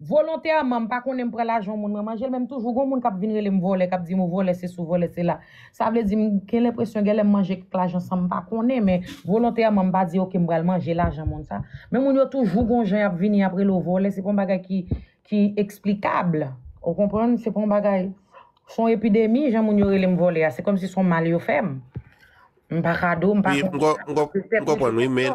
Volontèman m pa konnen m pran lajan yon moun mwen manjel men m toujou gon moun kap vin rele m vòlè kap di m ou vòlè se si ou vòlè se la sa vle di m gen lenpresyon genlè m manje kèk lajan san m pa konnen men volontèman m pa di ok m pral manje lajan moun sa men moun yo toujou gon jan yap vini yap rele w vòlè se pa yon bagay ki ki eksplikab ou konprann se pa yon bagay se yon epidemi jan moun yo rele m vòlè a se kòm si se yon mal yo fè m m pa kado m pa konprann m konprann wi men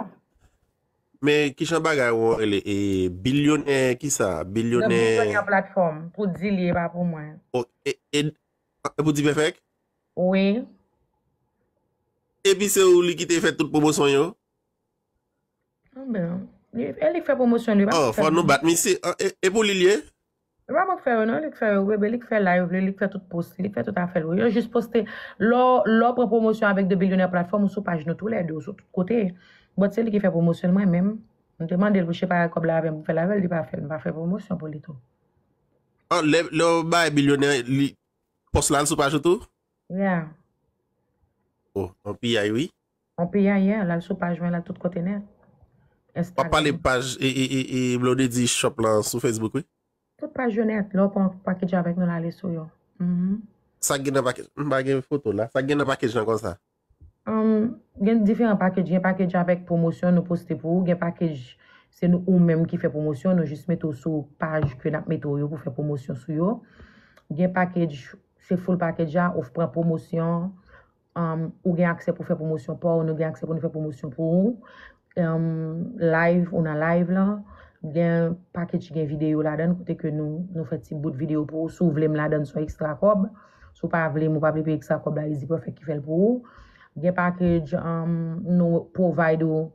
Men kijan bagay wou rele e bilyonè kisa bilyonè. Nan bilyonè platfòm pou dil ye pa pou mwen. E pou dipèfèk? Wi. Epi se ou li kite fè tout pwomosyon yo? Anben. E li k fè pwomosyon li yo pa mwen fè. Fò nou bat misye. E pou li l ye? Yo pa pòk fè yo non li k fè yo bebe li k fè live li li k fè tout post li li k fè tout afèl wi yo jis poste lè w lè w pran pwomosyon avèk 2 bilyonè platfòm ou sou paj nou tou lè 2 ou sou tout kote but se li ki fè pwomosyon l mwen menm m te mande l pou l chepare kòb la avè m pou m fè l avè l li pa fè l m pa fè pwomosyon pou li tou. An lè lè w bay bilyonè li post la l sou paj ou tou? Yeah. Oh yon piyay wi. On payayè al al sou paj mwen la tout kote nèt. Wap pale paj e blondedy shop lan sou Facebook wi. Tout paj yo nèt lè w pa yon package avèk nou la ale sou yo. Sak gen nan package m pa gen foto la sak gen nan package lan konsa. Gen diferan package gen package avèk pwomosyon nou poste pou ou gen package se nou ou menm ki fè pwomosyon nou jis mete w sou paj ke nap mete w yo pou fè pwomosyon sou yo gen package se full package a ou pran pwomosyon Ou gen aksè pou fè pwomosyon pa w, nou gen aksè pou nou fè pwomosyon pou ou. Live, ou nan live lan, gen package ki gen videyo ladan kote ke nou fè ti bout videyo pou ou. Si w vle m ladan son ekstra kòb, si w pa vle m ou pa vle peye ekstra kòb la Easy Perfect ki fè l pou ou. Gen package nou provide ou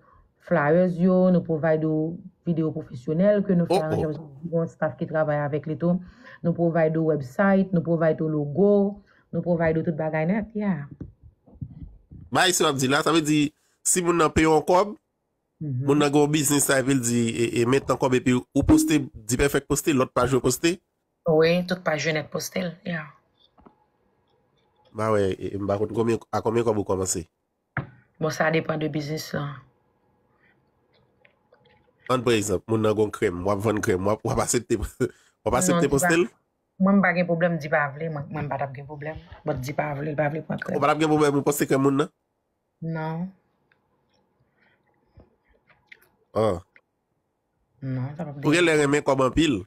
flyers yo, nou provide ou videyo pwofesyonèl ke nou fè aranjman pou yon staff ki travay avèk li tou. Nou provide ou website, nou provide ou logo. Nou provide ou tout bagay net yeah. Bay sa wap di la, sa vle di si moun nan peye yon kob, moun nan gen yon biznis la epi l di e men tan kob epi ou poste D-Perfect poste, lot paj yo poste? Wi, tout paj yo net poste l yeah. Mpa wè, mpa konn konbyen, a konbyen kob ou komanse? Bon sa depan de biznis lan. Ann pran egzanp, moun nan gen yon krèm, wap vann krèm, wap asepte, wap asepte poste l? Mwen m pa gen problem di pa vle mwen m patap gen problem but di pa vle li pa vle pran krèm. Ou patap gen problem ou panse krèm moun nan? Non. Oh. Non sa pap. Ou gen lè renmen kob anpil.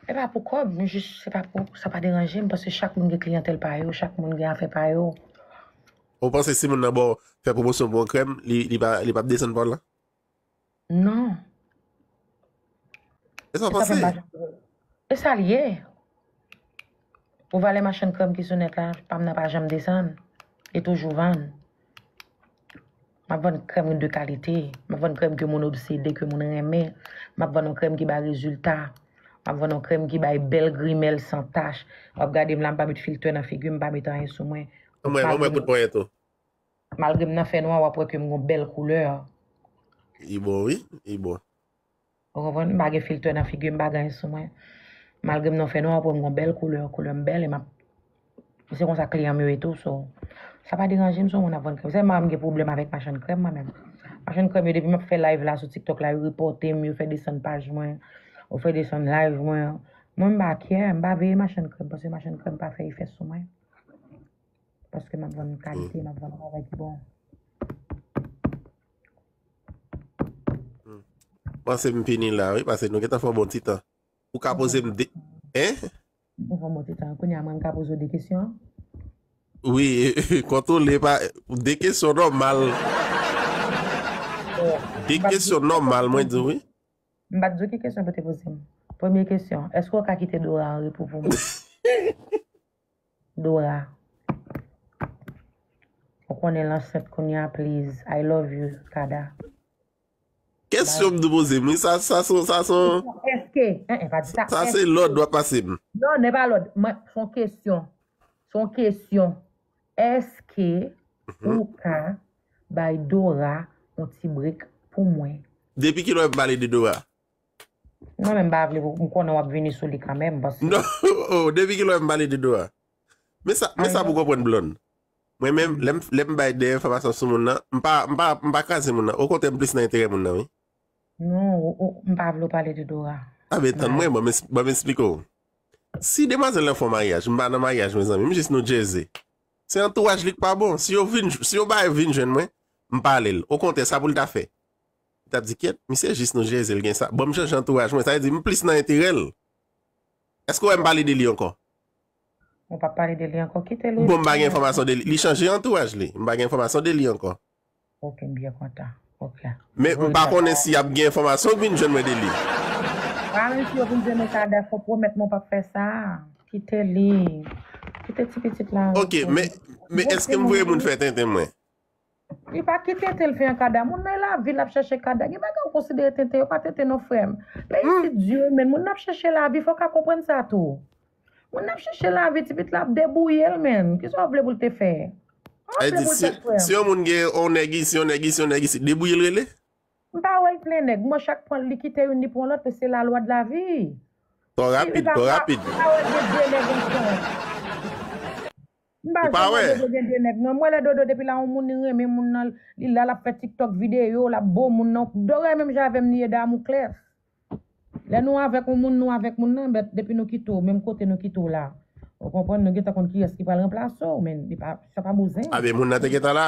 E pa pou kob m jis se pa pou sa pa deranje m paske chak moun gen kliyantel pa yo chak moun gen afè pa yo. Ou panse si moun nan baw fè promosyon pou yon krèm li pap desann paw lan? Non. E sa pase? E sa liye? Pou valè machann krèm ki sou nèt la, pam nan pa janm desann. Li toujou vann. Map vann krèm de kalite. Map vann krèm ke moun obsede, ke moun renmen. Map vann yon krèm ki bay rezilta. Map vann yon krèm ki bay bèl grimèl san tach. Wap gade m la, m pa met filtè nan figi m, m pa met anyen sou mwen. Ban mwen kout ponyèt ou. Malgre m nan fè nwa wap wè ke m gon bèl koulè. Li bon wi, li bon. Ou konprann? M pa gen filtè nan figim, m pa gen anyen sou mwen. Malgre m nan fè nwa wap wè m gon bèl koulè, koulè m bèl e map e se konsa kliyan m yo ye tou so sa pa deranje m si yon moun ap vann krèm. Sèlman mwen m gen pwoblèm avèk machann krèm mwen menm. Machann krèm yo depi map fè live la sou tiktok la yo repòte m, yo fè desann paj mwen, yo fè desann live mwen. Mwen m pa kè, m pa veye machann krèm paske machann krèm pa fè efè sou mwen. Paske map vann kalite, map vann bagay ki bon. Panse m fini la wi, pase nou getan fè yon bon ti tan. Ou ka poze m de... Hein? Ou fè yon bon ti tan. Kounye a mwen m ka poze ou de kesyon? Wi, kontwole pa... De kesyon nòmal. De kesyon nòmal mwen di wi. M pa t di w ki kesyon pou te poze m. Premye kesyon, èske w ka kite Dora anrepo pou mwen? Dora ou konnen l ansent kounya please I love you Kada. Kesyon m dwe poze m wi sa sa son sa son Eske eeh pa di sa sa se lòd wap pase m. Non nè pa lòd mwen son kesyon son kesyon eske ou ka bay Dora yon ti break pou mwen. Depi kilè m pale de Dora? Mwen menm m pa vle pou m konnen w ap vini sou li kanmenm paske. Non o depi kilè m pale de Dora? Men sa men sa pou w konprann Blonde. Mwen menm lè m lè m bay de enfòmasyon sou moun nan m pa m pa m pa kraze moun nan okontrè m plis nan enterè moun nan wi. Non ou ou m pa vle w pale de Dora. A men tann mwen ban m ban m esplike w. Si demwazèl lan fè w maryaj m pa nan maryaj mezanmi m jis nou jeze. Se antouraj li k pa bon si yo vin si yo bay vin jwenn mwen m pale l okontrè sa pou l ta fè. Tap di kyèt misye jis nou jezi l gen sa bon m chanje antouraj mwen sa vle di m plis nan enterè l èske w wè m pale de li ankò? Ou pa pale de li ankò kite l ou Bon m pa gen enfòmasyon de li li chanje antouraj li m pa gen enfòmasyon de li ankò. Ok m byen kontan ok. Men m pa konnen si ap gen enfòmasyon k vin jwenn mwen de li. Wa wè si yo vin jwenn ou sa dèf ou pwomèt mwen w pap fè sa kite li kite ti pitit la. Ok men men èske m voye moun fè tenten mwen? Li pa ki tenten li fè an kada moun nan lavi lap chache kada gen bagay ou konsidere tenten yo pa tenten non frèm men isit du men moun nan ap chache lavi fòw ka konprann sa tou moun nan ap chache lavi ti pit la ap debouyel menn kisa ou vle poul te fè sa ou vle poul fè frèm. Si yon moun gen yon nèg isi yon nèg isi yon nèg isi debouyel rele. Mpa wèl plen nèg m'en chak pran li kite youn li pran lòt men se la lwa de la vie. Twò rapid twò rapid. M pa janm wè dodo gen 2 nèg non. M wè lè dodo depi l a yon moun li renmen moun nan li la lap fè tiktok video lap bo moun nan dorè menm jan avèm li ye damou klèf lè nou avèk yon moun nou avèk moun nan bèt depi nou kite w menm kote nou kite w la ou konprann nou gentan konn kiyès ki pral ranplase w men li pa sa pa bouzen. Abe moun nan te gentan la.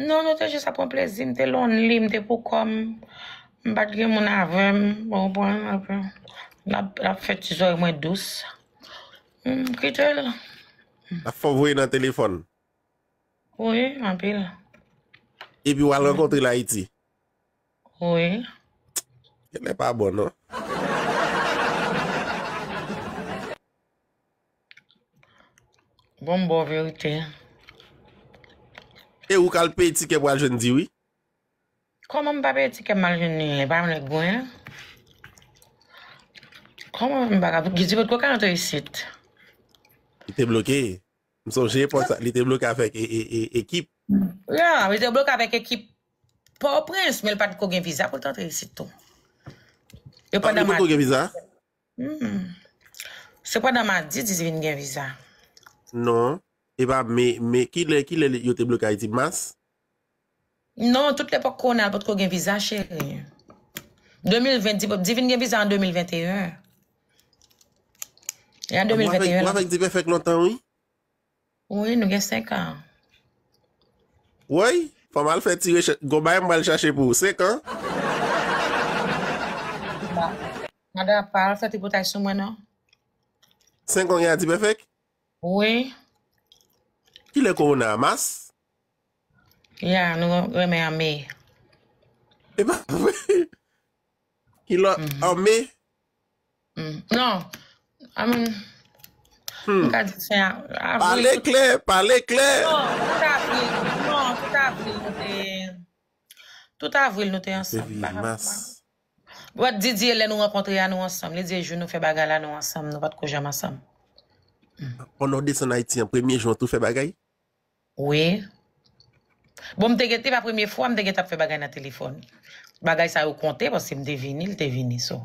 Non, nou te jis ap pran plezi, m te lonely, m te poukòm, m pa t gen moun avè m, ou konprann, epi l ap fè ti zòrèy mwen dous, m kite l. L ap fè w voye nan telefòn? Wi, anpil. Epi w al rankontre l Ayiti? Wi. Genlè pa bon non. Bon boo verite. E ou kal peye tikè pou al jwenn di wi. Koman m pa peye tikè m al jwenn li li pa yon nèg gwen. Koman m paka pou di potko ka antre isit. Li te bloke. M sonje epòk sa li te bloke avèk ekip. Ya li te bloke avèk ekip pòtoprens men li pat ko gen viza pou l t antre isit tou. Li pat ko gen viza? Humm. Sepandan ma di di vin gen viza. Non. E pa me me kilè kilè li yo te bloke Ayiti mas? Non tout lepòk Ronald potko gen viza cheri. 2020 di di vin gen viza an 2021. E an 2021 Wap fèk di pèfèk lontan wi. Wi nou gen 5 an. Woy fòm al fè ti rechèch gon bagay m pral chache pou ou 5 an. Nada pa al fè tripotay sou mwen non. 5 an gen a dipèfèk? Wi. Kilè kowona a mas? Ya nou renmen an me. Epa vre? Kilò an me? Non, I mean, m ka di fen avril. Pale klè, pale klè. Non, tout avril, non, tout avril nou te, tout avril nou te ansanm. Depi mas. Wè di di e lè nou rankontre a nou ansanm, li di e jou nou fè bagay la nou ansanm, nou pat ko janm ansanm. Pò nou desann Ayiti an, premye jou an tou fè bagay? Wi. Bon m te gen te pa premye fwa m te gentan ap fè bagay nan telefòn. Bagay sa yo konte paske m te vini, l te vini so.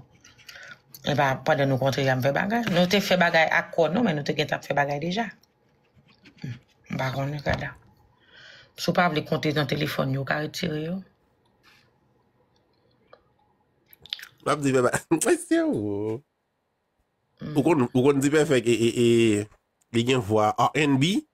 E pa pandan nou kontre ya m fè bagay. Nou te fè bagay ak kò nou men nou te gentan ap fè bagay deja. M pa konnen kada. Si w pa vle konte nan telefòn yo, w ka retire yo. Wap di beba. Mwen se ou. Ou kon di pèfèk e li gen vwa RNB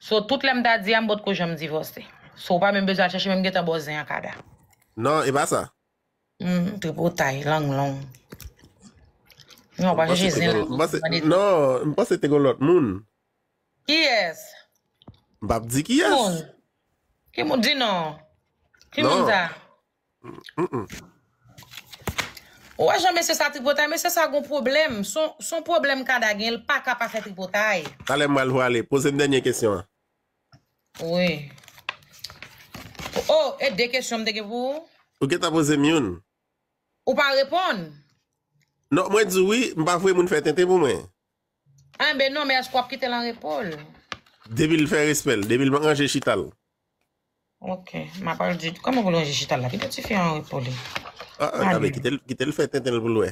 So tout lèm ta di a m potko janm divòse. So ou pa menm bezwen al chèche men m gentan ba w zen an kada. Non e pa sa. Humm tripotay lang long. Non ou pa chèche zen lan tou pou mande. Non m panse te gon lòt moun. Kiyès? M pap di kiyès. Ki moun? Ki moun? Di non. Ki moun sa? Ou wè jan mesye sa tripotay mesye sa gon pwoblèm son pwoblèm kada gen l paka pa fè tripotay. Talè m pral vwale. Poze m dènye kesyon an. Wi. Oh e 2 kesyon m te gen pou ou? Ou gentan poze m youn. Ou pa reponn. Non mwen di w wi m pa voye moun fè tenten pou mwen. Enben non men èske w ap kite l anrepo l? Depi l fè respè l. Depi l ranje chita l. Ok map al di koman pou lonje chita la kite tifi an anrepo li ale kitel fè tenten l pou l wè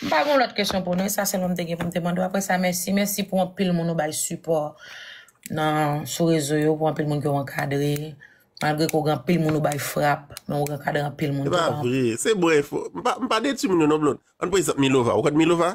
m pa gon lòt kesyon pou nou e sa sèlman m te gen pou m te mande w aprè sa mèsi mèsi pou anpil moun ou bay sipò nan sou rezo yo pou anpil moun ke w ankadre malgre ke w gen anpil moun ou bay frap men ou ankadre anpil moun se pa vre se bon enfo m pa detwi moun yo non Blonde an pran egzanp Milova ou konn Milova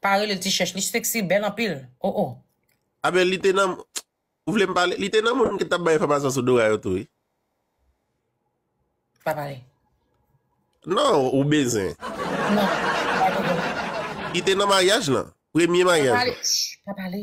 Pa relel ti chèch li sexy bèl anpil oh oh. Ah ben li te nan Ou vle m pale Li te nan moun ki tap bay enfòmasyon sou Dora yo tou wi. Pa pale. Non ou bezwen. Non pa pale. Li te nan maryaj lan. Premye maryaj lan. Pa pale.